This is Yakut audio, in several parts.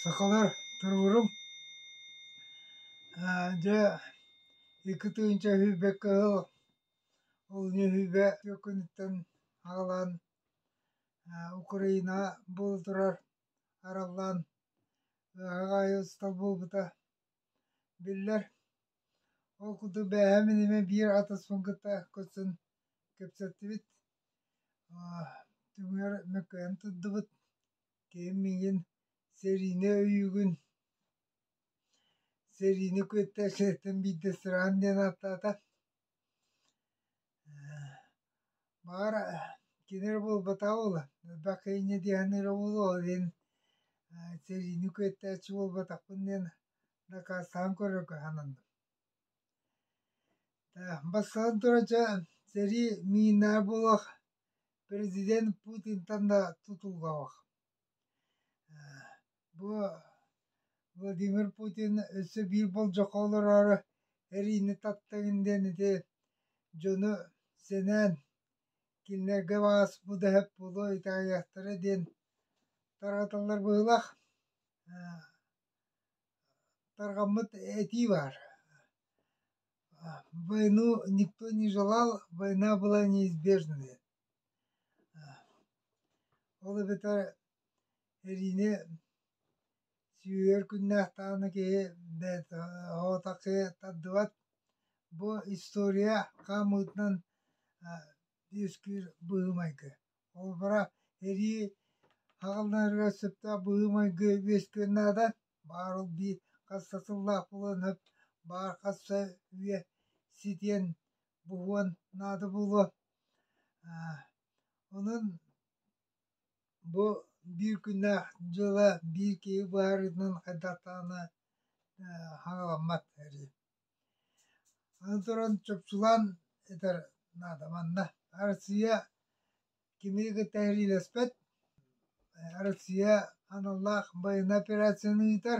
Сахалар туруоруҥ дьэ икки тыһыынча сүүрбэккэ ыал олунньу сүүрбэ түөккүнүттэн аҕалан Украина буола турар араллаан ыаһаҕа айы ыстал буолбута Биллэр, ол курдук бээһэм инимэ биир атаспын кытта көрсөн кэпсэттибит. Түҥүр мөккүһэн турдубут. Киһим миигин сэриини өйүүгүн, сэриини кытта сирэттэн биирдэ сыраан диэн ааттаата. Баҕар кини эрэ буолбатаҕа буолуо, элбэххэ инньэ диэххинэ эрэ буолуо, ол иһин сэриини куттээччи буолбатахпын диэн дакаастаан көрөргө сананным. Бастатан туран дьэ сэрии миинэ буолуох, президент Путинтан да тутуллабах Бу Владимир Путин өссө биир болдьоххо олороору эриини таптыгын диэн ити дьону сэнээн кинилэргэ баас бу дэһэт буолуо итаайыахтара диэн таратыллар быһыылаах тарҕаммыт этии баар войну никто не желал война была неизбежная Ол эбэтэр эриини сүүйэр күннээх даҕаны киһи бэйэтэ оҕотоххо тардыбат. Бу история хаамыытынан үөскүүр быһыы-майгы. Холобура, эрии аҕалынарыгар сөптөөх быһыы-майгы үөскүөн наада. Баар ол биир хас да сыллаах буолан, баар хас да үйэ ситиэн буһуон наада буолуо онон бу биир күннээх дьыала биир киһи быһаарыытынан хайдахтаҕына хаҥаламмат эрий аны туран чопчулаан этэр наада манна Россия кими кытта сэриилэспэт Россия аналлаах байыаннай операцияны ыытар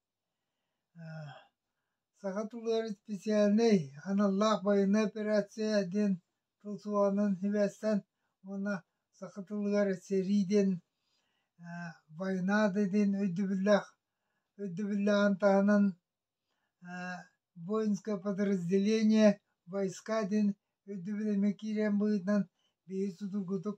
Саха тулуор исписээлинэй аналлаах байыаннай операция диэн тыл суоҕунан сибээстэн уонна саха тылыгар сэрии диэн война да диэн өйдөбүллээх өйдөбүллээҕин таһынан воинское подразделение войска диэн өйдөбүл эмиэ киирэн быһыытынан биһиги судургутук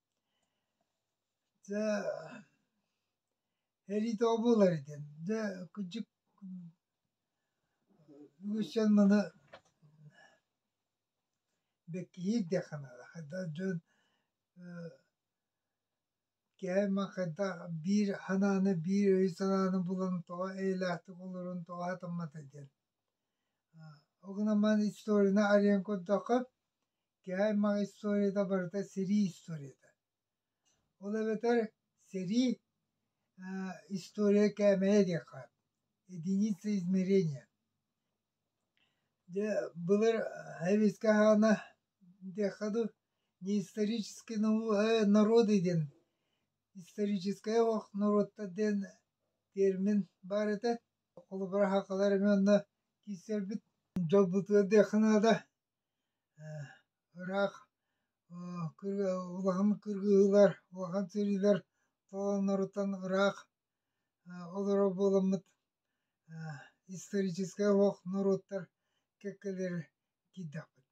Дьэ эриитэ обуулар итин дьэ кыдьык үгүсчэн маны бэккиһиир диэххэ наада хайда дьон кээма хайда биир санааны биир өй санааны булан тоҕо эйэлээхтик олорон тоҕо сатаммата диэн ол гынан баран историяны арыйан көрдөххө Кээмэҕ историята барыта сэрии историята. Ол эбэтэр сэрии э, история кээмэйэ диэххэ единица измерения. Дьэ, былыр хевискэ хаана диэххэ дуу неисторический э, народы диэн историческая ох норуоттар диэн термин бар этэ. Холобура хакалар эмиэ онно киирсэрбит дьолбутугар диэххэ наада Ыраах улахан кыргыһыылар, улахан сэриилэр толоннорутан ыраах олорор буоламмыт историческай олох норуоттар кэккэлэрэ киирдэхпит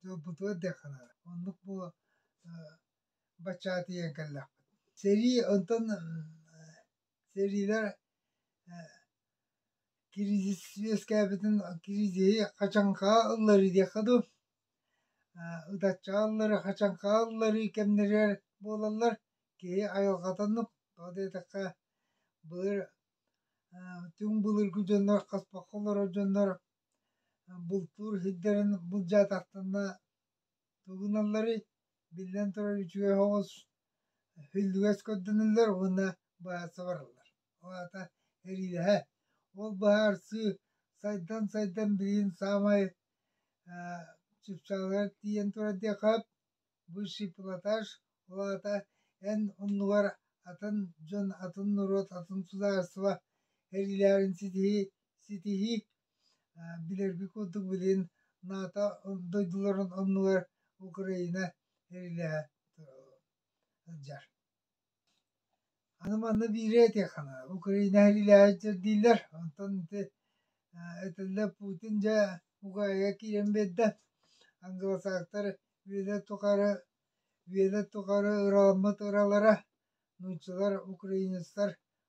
дьолбутугар диэх санаабын оннук буола бачча тиийэн кэллэхпит сэрии онтон Сэриилэр кризис үөскээбитин кризиһи хачаҥхаҕа ылларыы диэххэ дуу ытаччаҕа ылларыы хачаҥхаҕа ылларыы кэмнэригэр буолаллар киһи айылҕатыннык тоҕо диэтэххэ былыр түҥ былыргы дьоннор хаспахха олорор дьоннор бултуур сирдэрин былдьаатахтарына тугуналларый биллэн турар үчүгэй хоҕус үллүгэс көрдөнөллөр уонна баара сабараллар ол аата эриилэһэ ол быһаарсыы сайдан сайдан билигин саамай чыпчаалыгар тиийэн турар диэххэ бывший платаш ол аата эн оннугар атын дьон атын норуот атын судаарыстыба эриилээҕин ситиһии ситиһии билэрбит курдук билин НАТО дойдуларын оннугар Украина эрилэһэ сылдьар. Аны манна биири этиэххэ Украина эрилэһэ дииллэр, онтон ити этэллэ Путин дьэ Угаайга киирэн биэрдэ. Англосаактар Вена тухары Вена тухары ырааммыт ыралара, нууччалар, украинецтар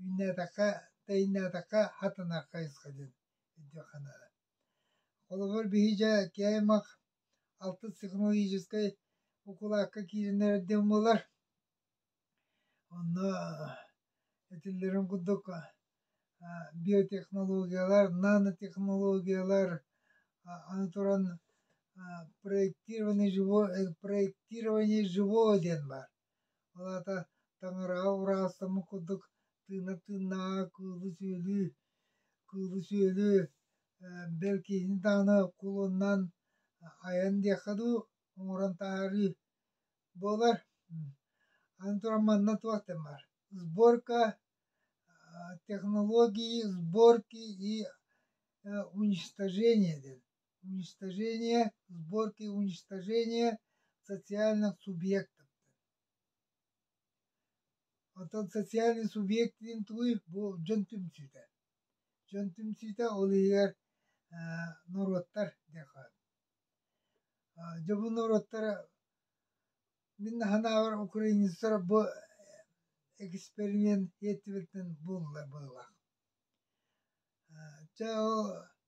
Үүннээтэххэ, тэйиннээтэххэ, хатаныахха хайысха диэн өйдүөххэ Холобур, биһиги КМХ алтыс технологическай укулаакка киириннэр эрдим буолар. Онно этиллэрин курдук биотехнологиялар, нанотехнологиялар, аны туран проектирование живого, проектирование живого диэн баар. Ол аата таҥараҕа ураастаммыт курдук тыына-тыыннааҕа кыылы-сүөлү, кыылы-сүөлү бэл киһини даҕаны кулунан айан диэххэ дуу, оҥорон таһаарыы буолар. Аны туран манна туох диэн баар, сборка технологии, сборки и уничтожение диэн. уничтожения, сборки уничтожения социальных субъектов. Оттон социальный субъект диэн тугуй? Бу дьон түмсүүтэ. Дьон түмсүүтэ ол иһигэр норуоттар диэхэ. Дьэ бу норуоттара мин наһанаабар украинецтар бу эксперимент эттибиттен буллар быылах. Дьэ ол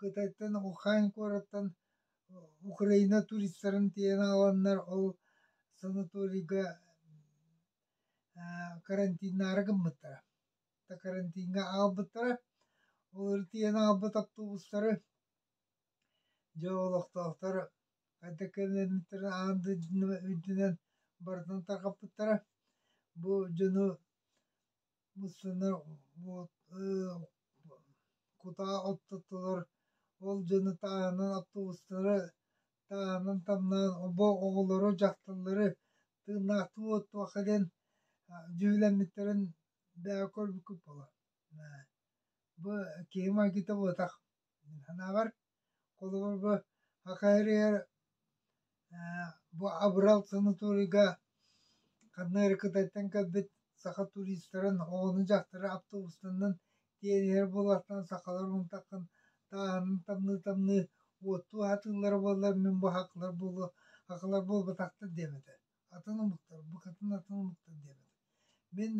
Кытайтан Ухань куораттан Украина туристарын тиийэн аҕаланнар ол санаторийга карантиннаары гыммыттара. Да карантиҥҥа аҕалбыттара. Олору тиийэн аҕалбыт автобустары дьэ олохтоохтор хайдах кэлэрниттэрин аан дойдунан барытын тарҕаппыттара. Бу дьону Муссана вот кутаа оттоттулар, ол дьону тааһынан автобустары тааһынан тамнаан обо оҕолору, дьахталлары тыыннаахтыы уоттуохха диэн дьүһүлэммиттэрин бэйэҕэ көрбүккүт буолар. Бу киһи майгыта буотах. Санаабар Холобурга аха эригэр ээ бу Абырал санаторийга ханна эрэ Кытайтан кэлбит саха туристарын оҕону-дьахтары автобустанан тиэрийэр буолаахтан сахалар умтаххын тааһынын тамныы-тамныы уоттуу аһатыыллара буоллар мин бу аһаҕалар буолуо аһаҕалар буолбатахтар диэм этэ атын омуктар, букатын атын омуктар диэбит. Мин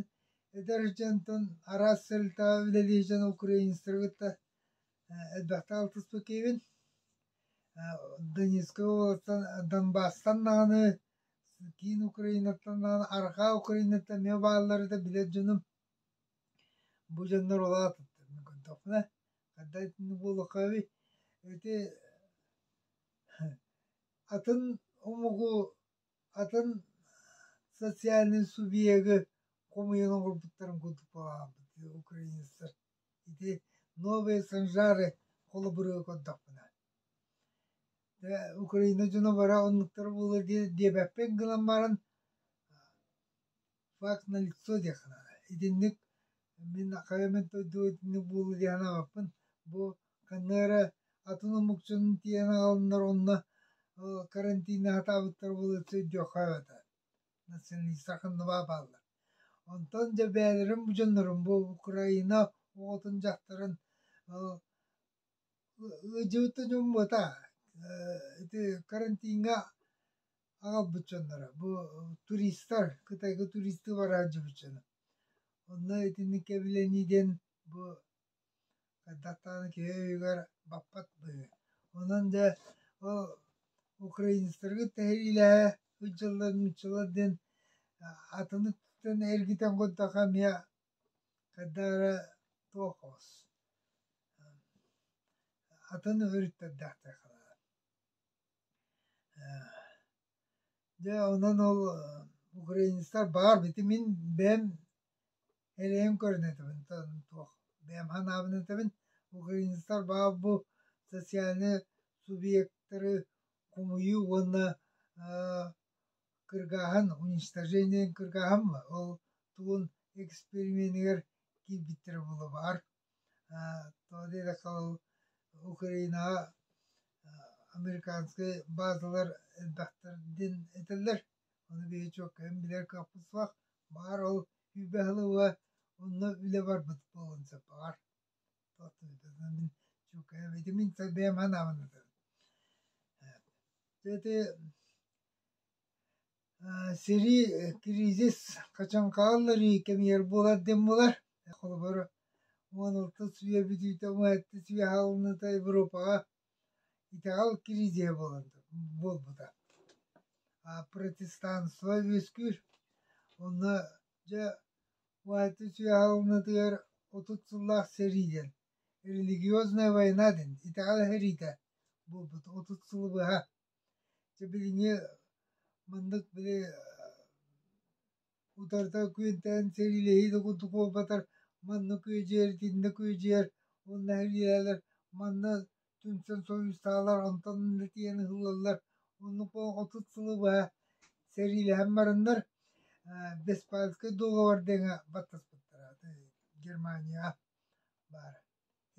эдэр дьонтон араас сэлтаҕа үлэлии дьон украинецтары кытта элбэхтэ алтыспыт киһибин. Донецкай Донбасстан даҕаны киин Украинаттан даҕаны арҕаа Украинаттан эмиэ бааллары да билэр дьонум бу дьоннор улаатыттар мин көрдөхпүнэ хайда итинник буолуохха эбит ити атын омугу, атын социальнай субъегы хомуйан оҥорбуттарын курдук баҕаһаабыт украинецтар ити новые санжары холобуруга көрдөхпүнэ Украина дьоно бара оннуктара буолуо диэбэппин гынан баран факт налицо диэххэ итинник мин хайа мин дойду итинник буолла диэн аҕаппын бу ханна эрэ атын омукчунан тиийэн аҕаланнар онно карантиҥҥа сатаабыттар буолуоцу өйдүөххэ этэ националистар ханныбаа бааллар онтон дьэ бэйэлэрин бу дьоннорун бу украина оҕотун дьахтарын ыдьыыта дьоммута ити карантиҥҥа аҕалбыт дьонноро бу туристар Кытайга туристы бара сылдьыбыт дьоно онно итинник кэбилэнии диэн бу даттааны киһи өйүгэр баппат быһыы онон дьэ ол украинецтаргыт тэһириилэһэ сылдьаллар нууччалар диэн атынныктан эргитэн курдуха эмиэ хайда эрэ туохос атын өрүттэрдээхтэр Дьэ онон ол украинецтар баар бити мин бэйэм элэйэн көрөн этэбин туох бэйэм санаабын этэбин украинецтар баар бу социальнай субъектары хомуйуу уонна кыргааһын уничтожениен кыргааһын ол тугун эксперименигэр киирбиттэрэ буолуо баар Украинаҕа американскай баазалар элбэхтэрдин этэллэр ону бэйэ-чуоккайын билэр кыахпыт суох баар ол күүбэ хылыва онно үлэ барбыт буолан сөп баар мин чуоккайа битимин бэйэм ханаабын это сэрии, кризис хачан хаалларыы кэмигэр буолар диэн буолар. Холобур, уон алта сүбэ бүтүүтэ, уон алта сүбэ хаалыныыта Европаҕа итэҕэл кризиһэ буолан буолбута. Протестанство үөскүүр. Онно дьэ уон алта сүбэ хаалыныытыгар отут сыллаах сэрии диэн религиозная война диэн итэҕэл эһэриитэ буолбут отут сылы быһа Чэ билиҥҥи маннык били утарыта күөнтээн сэриилэһии да курдук буолбатар маннык күөдьүйэр итиннэ күөдьүйэр уонна нэһилиэлэр манна түмсэн соруйустаалар онтон иннэ тиийэн ыһыллаллар оннук буолан отут сылы быһа сэриилэһэн бараннар Веспальскай дуогабар дэҥэ баттаспыттара Германияҕа баар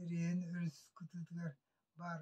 эрийэн өрүс кытыытыгар баар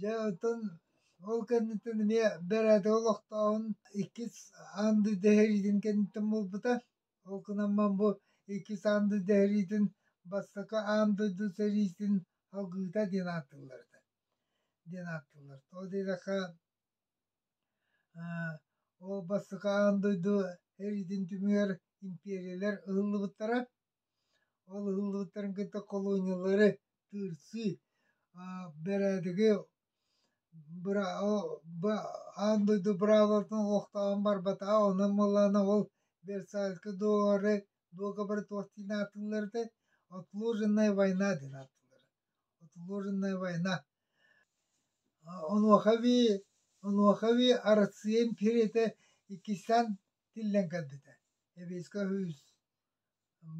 Дьэ оттон ол кэнниттэн эмиэ бэрээдэги олохтооһун иккис аанды дэһэриитин кэнниттэн буолбута. Ол гынан баран бу иккис аанды дэһэриитин бастакы аан дойду сэриитин алгыыта диэн ааттыыллар этэ. диэн ааттыыллар. Ол диэтэххэ ол бастакы аан дойду сэриитин түмүгэр империялэр ыһыллыбыттара. Ол ыллыыллартан кытта колониялары тыырсыы, бэрээдэги аан дойду браво-тын олохтоон барбата, онон буоллаҕына ол Версальскай дуогабары дуогабары туох диэн ааттыылларытай? Отложенная война диэн ааттыыллара. Отложенная война. Онуоха эбии онуоха эбии Арассыыйа империятэ иккистэн тиллэн кэлбитэ. Сэбиэскэй Сойуус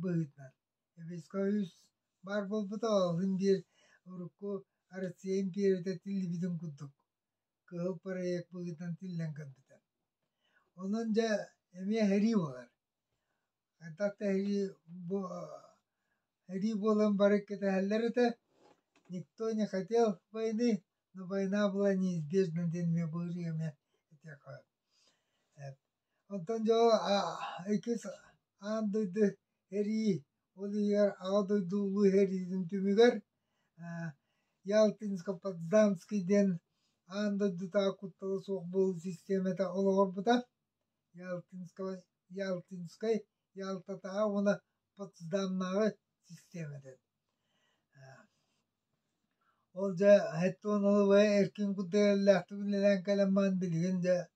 быһыытынан Эвеска үс баар буолбута оһун диир урукку Арыцыйын Пиэрэтэ тиллибитин курдук кыһыл проект быһыытынан тиллэн көрбүтэ. Онон дьэ эмиэ сэрии буолар. Хайдах да сэрии бу сэрии буолан бары кэтэһэллэр этэ. Никто не хотел войны, но война была неизбежна диэн эмиэ быһырыы эмиэ этиэхэ Оттон дьо иккис аан дойду эрии, ол иһигэр Аҕа дойду улуу иһэриитин түмүгэр Ялтинско-Потсдамский диэн аан дойдутааҕы куттала суох буолуу систиэмэтэ олоҕурбута. Ялтинскай, Ялтатааҕы уонна Потсдамнааҕы систиэмэтэ. Ол дьэ эркин курдук эрэллээхтик үлэлээн кэлэн баран билигин дьэ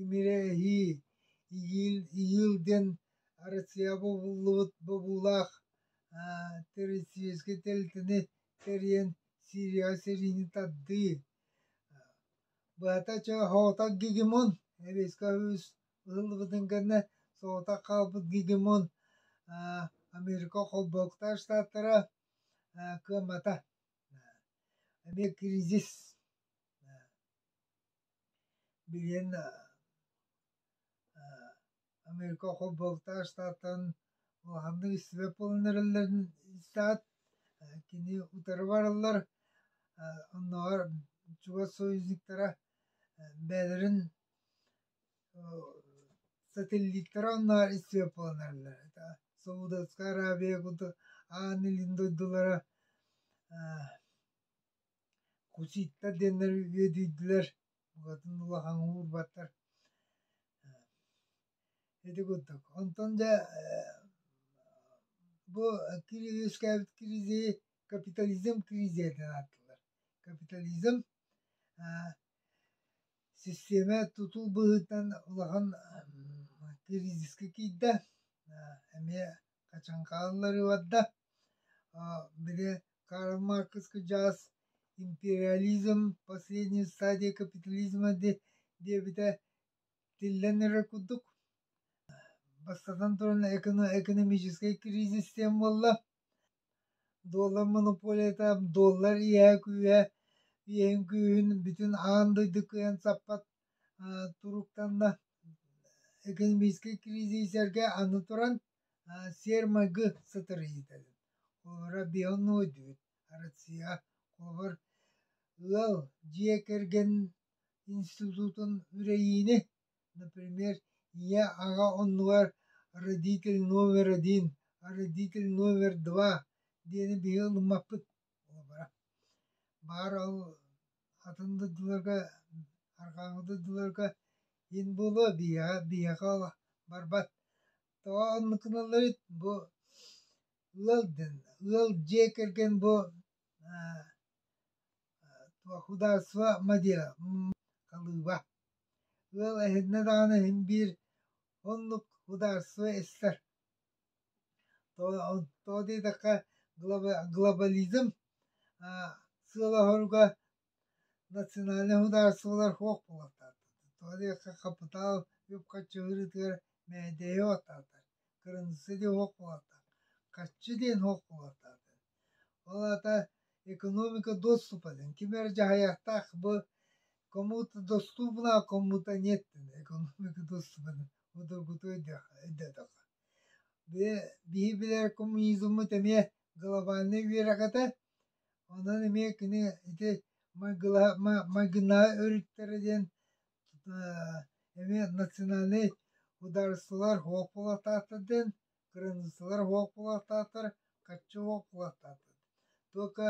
Имирээһи, Иил, Иил диэн Россияҕа бобуллубут бобуулаах террористическай тэрилтэни тэрийэн Сирияҕа сэриини тардыы. Быһата чэ соҕотох гегемон рейска үһүс ыһыллыбытын кэннэ соҕотох хаалбыт гегемон Америка холбоктар штаттара кыамата. Эмиэ кризис. Билигин Америка Холбу Алтаа Штатан улаханнык истибэт буолан эрэллэрин истээт, кини утары бараллар, оннооҕор чугас союзниктара бэйэлэрин сателлиттара оннооҕор истибэт буолан эрэллэр. Саудовскай Аравия курдук ааны илин дойдулара Кусита диэннэр үөдүйдүлэр, букатын улахан уурбаттар. Ити курдук. Онтон дьэ бу үөскээбит кризиһи капитализм кризиһэ диэн ааттыыллар. Капитализм систиэмэ тутул быһыытынан улахан кризиска киирдэ. эмиэ качан хаалларыварда били Карл Маркс кыдьаас империализм последний стадия капитализма диэбитэ тиллэн эрэр курдук бастатан туран экономическай кризис диэн буолла доллар монополията доллар иэһэ күүһэ иэһин күүһүн бүтүн аан дойду кыайан саппат туруктанна. Экономическай кризисэргэ аны туран сиэр-майгы сытарыйыыта холобура бионой үүт Россия холобур ыал дьиэ кэргэн институтун үрэйиини например ийэ аҕа оннугар родитель номер один родитель номер два диэни биһи ылыммаппыт уобара. Баар ол атын дойдуларга, арҕааҥы дойдуларга ин буолуо биһиэхэ биһиэхэ барбат. Тоҕо оннукуналларыт бу ыал дэн ыал дьиэ кэргэн бу худаарство мадия халыыба ыал эһиннэ даҕаны иһин биир оннук худаарство истэр тоҕо диэтэххэ глобализм сыалаһоруга национальнай судаарыстыбалар суох буолуохтаахтар тоҕо диэтэххэ хапытаал үп-харчы ыарыытыгар мээдээйи уоттаатар кырыымсыы диэн суох буолуохтаах хаччы диэн суох буолуохтаахтар Ол аата экономика доступен. Ким эрэ дьаһайыахтаах бу кому-то доступна, а кому-то нет экономика доступен удобутуй диэтэххэ. Били биһи билэр коммунизммыт эмиэ глобальнай үөрэҕэтэ. Онон эмиэ кини ити майгына өрүттэрэ диэн эмиэ национальнай ударсылар уопулатаата диэн Кыраныыссалар уһуох буолаахтаахтар, хаччы уһуох буолаахтаахтар. Только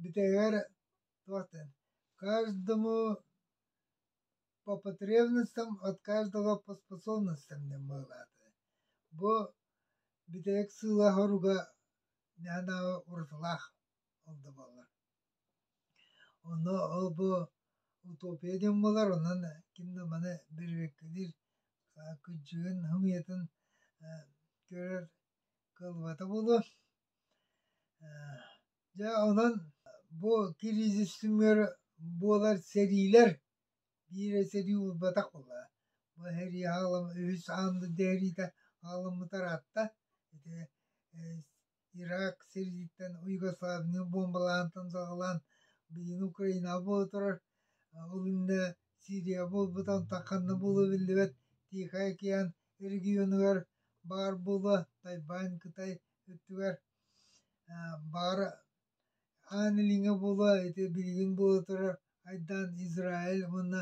бүтэһигэр туох дэн, каждому по потребностям от каждого по способностям диэн быһылаата. Бу бүтэһик сыылаах-соруга наһаа уратылаах ол да буоллар Онно ол-бу утопия диэн буолар, онон ким да маны бэрибиэккэлиир кыдьыгын, хымыйатын көрөр кыаллыбата буолуо. Дьэ онон бу кризис түмүгэр буолар сэриилэр биирэ сэрии булбатах буолла. Бу сэрии хаалым үһүс аан дойду сэриитэ хаалыммыта ыраатта. Ити Ирак сирдиттэн уюгославный бомбалаантан саҕалаан билигин Украинаҕа буола турар, ол иннэ Сирияҕа буолбутан ханна буолуо биллибэт Тихий океан регионугар баар буолуо, Тайвань, Кытай өттүгэр баар аан илиҥҥэ буолуо, ити билигин буола турар айдаан Израиль уонна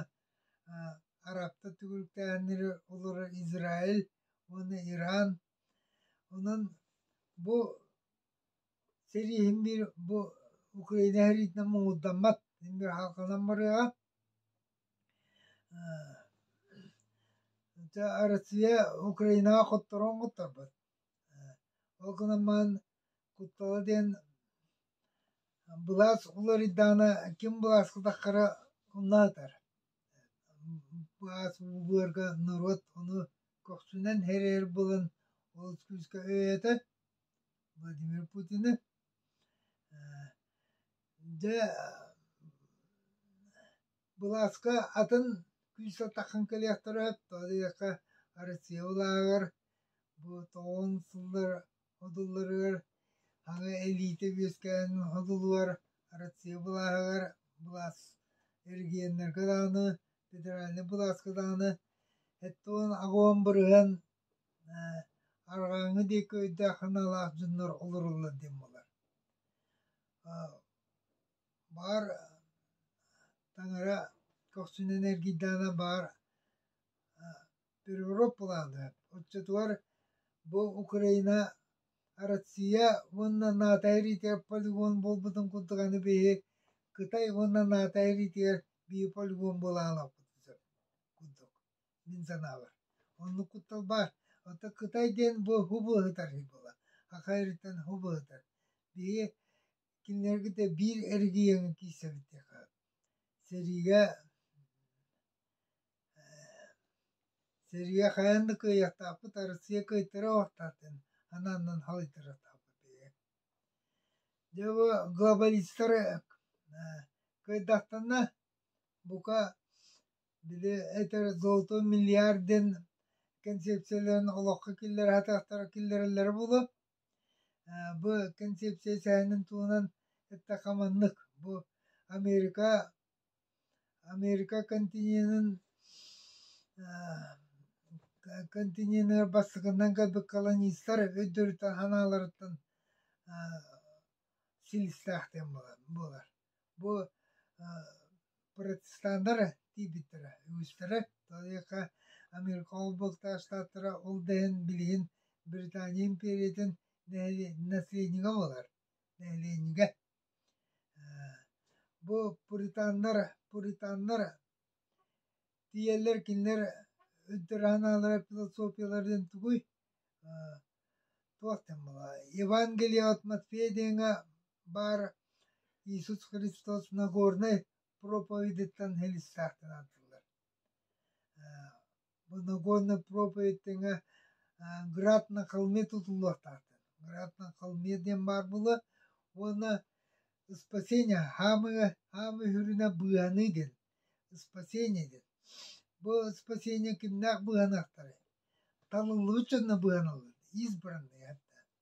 арабтар түгүрүктээһиннэрэ олорор Израиль уонна Иран Онон бу сэрииһим биир бу Украина сэриитинэн муҥурдаммат, мин бир хаалканан барыаҕа. Дьэ Россия Украинаҕа хотторон хоторбот. Ол гынан баран Куттала диэн былаас уларыйдаҕына ким былааскытаххара умнаатар. Былаас быһыарга норуот ону көхсүнэн эрэр буолан олус күүскэ өйөтө Владимир Путины. Дьэ былааска атын күүс атахан кэлиэхтэрэ сөп. Тоҕо диэтэххэ Россия улааҕар бу тоҕуон сыллар Ходулларыгар аҕа илиитэ үөскээн ходулугар Россия былааһыгар былаас эргиэннэргэ даҕаны федеральнай былааска даҕаны сэттэ уон аҕыйах бырыһыан арҕааҥҥы диэки өйдөөх санаалаах дьоннор олороллор диэн буолар. Баар таҥара көхсүнэн эргийдэҕинэ баар переворот-плана оччотугар бу Украина Россия уонна НАТО эриитигэр полигон буолбутун курдук аны биһи Кытай уонна НАТО эриитигэр биир полигон буола аалаппытын сөп курдук мин санаабар оннук кутталба оттон Кытай диэн бу хубу ыһытар буола аха эриттэн хубу ыһытар биһи кинилэргитэ биир эргийэҥи киирсэбит диэхэ сэриигэ Сэрии хайаан да кыайыахтаахпыт Арассыыйа кыайтара уохтаахтын анааннан халыйтаратаахпыт ээ. Дьэ бу глобалистар кыайдахтына бука били этэр золото миллиардын концепцияларын олоххо киллэрэхтаахтара киллэрэллэрэ буолуо. Бу концепция сэһэнин туһунан эттэххэ маннык бу Америка Америка континенын континеныгар бастакынан кэлбит колонистар өйдөрүттэн санааларыттан силистээхтэн буолар. Бу протестаннары тиийбиттэрэ үгүстэрэ Талиаха Америка Холболтоох Штаттара ол да иһин билигин Британия империятын нэһилиэнньэ населения буолар. Нэһилиэнньэ Бу пуританнар, пуританнар тиийэллэр кинилэр ынтыраһыналара философияларын тугуй туох да буолуо Евангелие от Матфея диэҥҥэ баар Иисус Христос Нагорнай проповедиттан хэлистээхтэн ааттыыллар Боногонна проповедь тэҥэ Град на холме тутуллуохтаахтар. Град на холме диэн баар буолуо уонна спасение хаамыы хаамыы үһүрүнэ быыһаныы диэн спасение диэн. Бу спасение кимнээх быыһаныахтарай? Таныллыбыт дьонно быыһаналлар, избранные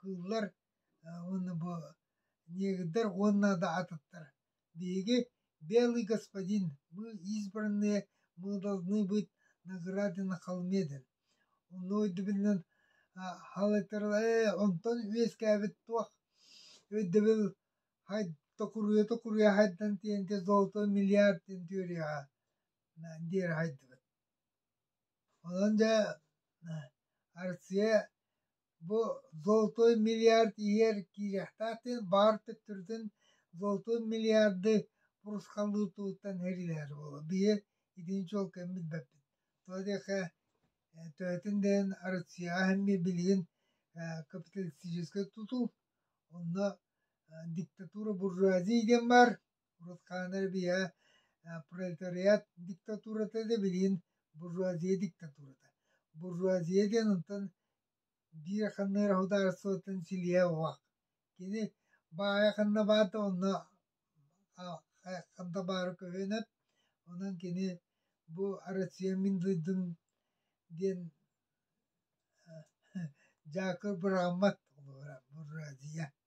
кыыллар уонна бу негрдар уонна да атыттар биһиги белый господин мы избранные мы должны быть награды на холме диэн онно өйдөбүлүнэн онтон үөскээбит туох өйдөбүл токуруйа токуруйа хайдан тиэнте золото миллиард диэн теорияҕа диэри хайдыбыт онон дьэ Арция Бу золотой миллиард иһигэр киириэхтээхтин баар төттөрүтүн золотун миллиарды пурусхалыытыттан эрилэһэр буолуо. Биһи итини чуолкайбыт бэппит. Тоҕо диэхэ төһөтүн да иһин Россияҕа эмиэ билигин капиталистическай тутуу, онно диктатура буржуазия диэн баар. Уруккаана эрбийэ пролетариат диктатурата да билигин буржуазия диктатурата. Буржуазия диэн онтон биир ханнык эрэ судаарыстыбаттан силиһэ уһах. Кини баайа ханна баар да онно ханна баара көһүөн эп. Онон кини бу Россия мин дойдум диэн дьаакыр быраамат булуора буржуазия.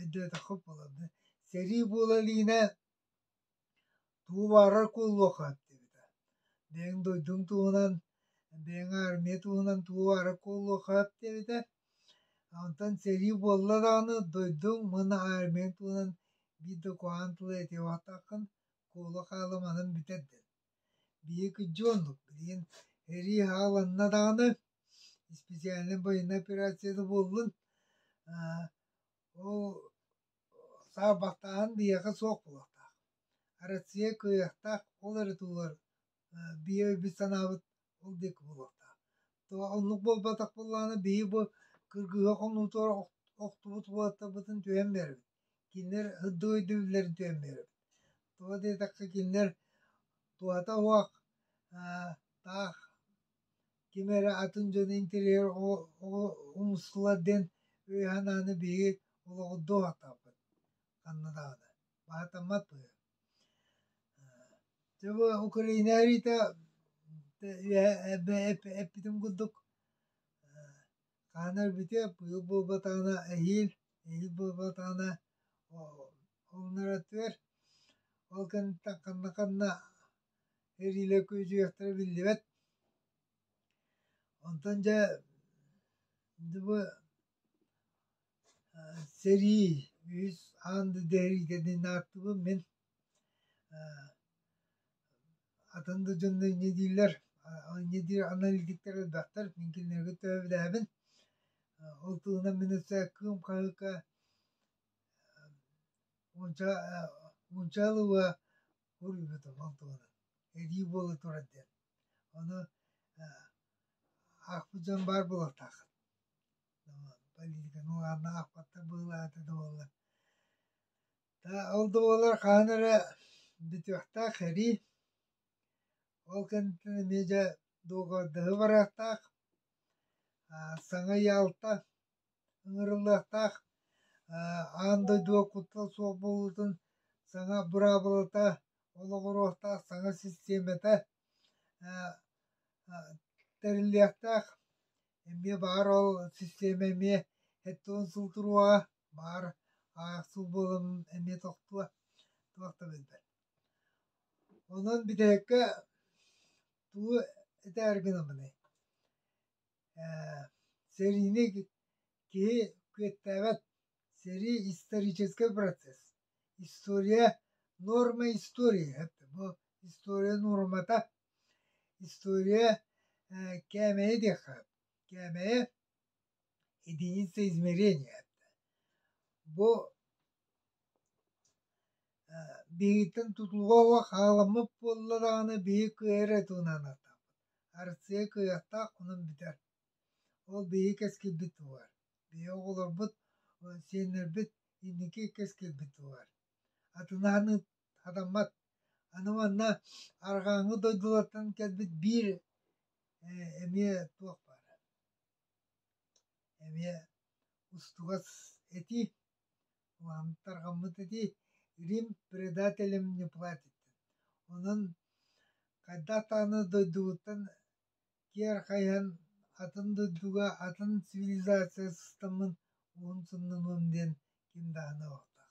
өйдөөтөххө буолабына сэрии буола илиинэ тугу баарар куолуохха диэбитэ бэйэҥ дойдуҥ туһунан бэйэҥ аармыйа туһунан тугу баара куолуохха диэбитэ онтон сэрии буолла даҕаны дойдуҥ уонна аармыйаҥ туһунан биир да куһаҕан тылы этиэххин куолу хаалымаһын бүтэр диэн Биһиги дьоннук, билигин эрии хааланна даҕаны, исписээлинэй байыаннай операцияда буоллун, ол саарбахтааһын биһиэхэ суох буолуохтаах. Россия кыайыахтаах, ол эрэ туһугар биһиэбит санаабыт ол диэки буолуохтаах. То оннук буолбатах буоллаана бии бу кыргыһа хонуутугар охтубут уолаттарбытын түһэн бэрбит. Кинилэр ырдыы өйдүүллэрин түһэн бэрбит. Тоҕо диэтэххэ кинилэр туһата уох таах ким эрэ атын дьон интерьер умустулар диэн өй-санааны биһиги олоҕурдуу аһатабыт ханна даҕаны. Баһатаммат быһыа. Чего Украина эрита эппитим курдук хаана өлбүтэ быйыл буолбатаҕына эһиил эһиил буолбатаҕына умнарытыар ол кэнниттэн ханна ханна эриилэр күөдьүйэхтэрэ биллибэт онтон дьэ бу Сэрии үс аанды дэригэни нааттыбын мин атын да дьонно инньэ дииллэр инньэ диир анал илгиттэр элбэхтэр мин кинилэргэ төбөлөөһүбүн ол туһунан мин өссө кыым хаһыакка уонча уонча ылыба суруйбутум ол туһунан эдии буола турар диэн ону аахпыт дьон баар буолуохтааххыт Полиитиканы уһаанна аахпаттар быһылаата да буолла. Ол да буоллар хаһан эрэ бүтүөхтээх эрий. Ол кэнниттэн эмиэ дьэ дуоһуйдаһы барыахтаах. Саҥа Ялта ыҥырыллыахтаах. Аан дойду куттал суох буолуутун саҥа быраабылата олоҕуруохтаах саҥа систиэмэтэ тэриллиэхтээх. эмиэ баар ол систиэмэ эмиэ сэттэ уон сыл туруоҕа баар аахсыл буолан эмиэ тохтуо туох да билбэт онон бүтэһиккэ тугу этээр гынамыный э, серийный киһи күөттээбэт сэрии исторический процесс история норма истории бу история нуормата История э, кээмэйэ диэххэ, кээмэйэ единица измерения. Бу э, биһиттэн тутулуга хааламмыт буолла даҕаны биһи кыа эрэ тунан атаппыт. Арсыа кыахтаах онон бүтэр. Ол биһи кэскилбит тугар. Биһи оҕолорбут, сиэннэрбит инники кэскилбит тугар. Атынааны Хатаммат. Аны манна арҕааҥҥы дойдулартан кэлбит биир эмиэ туох баар. Эмиэ устугас этии, улааннык тарҕаммыт этии Рим предателем не платьиттан. Онон хайдах даҕаны дойдугуттан киэр хайыһан атын дойдуга атын цивилизация сыстаммын уһун суннунуом диэн ким даҕаны баҕарбат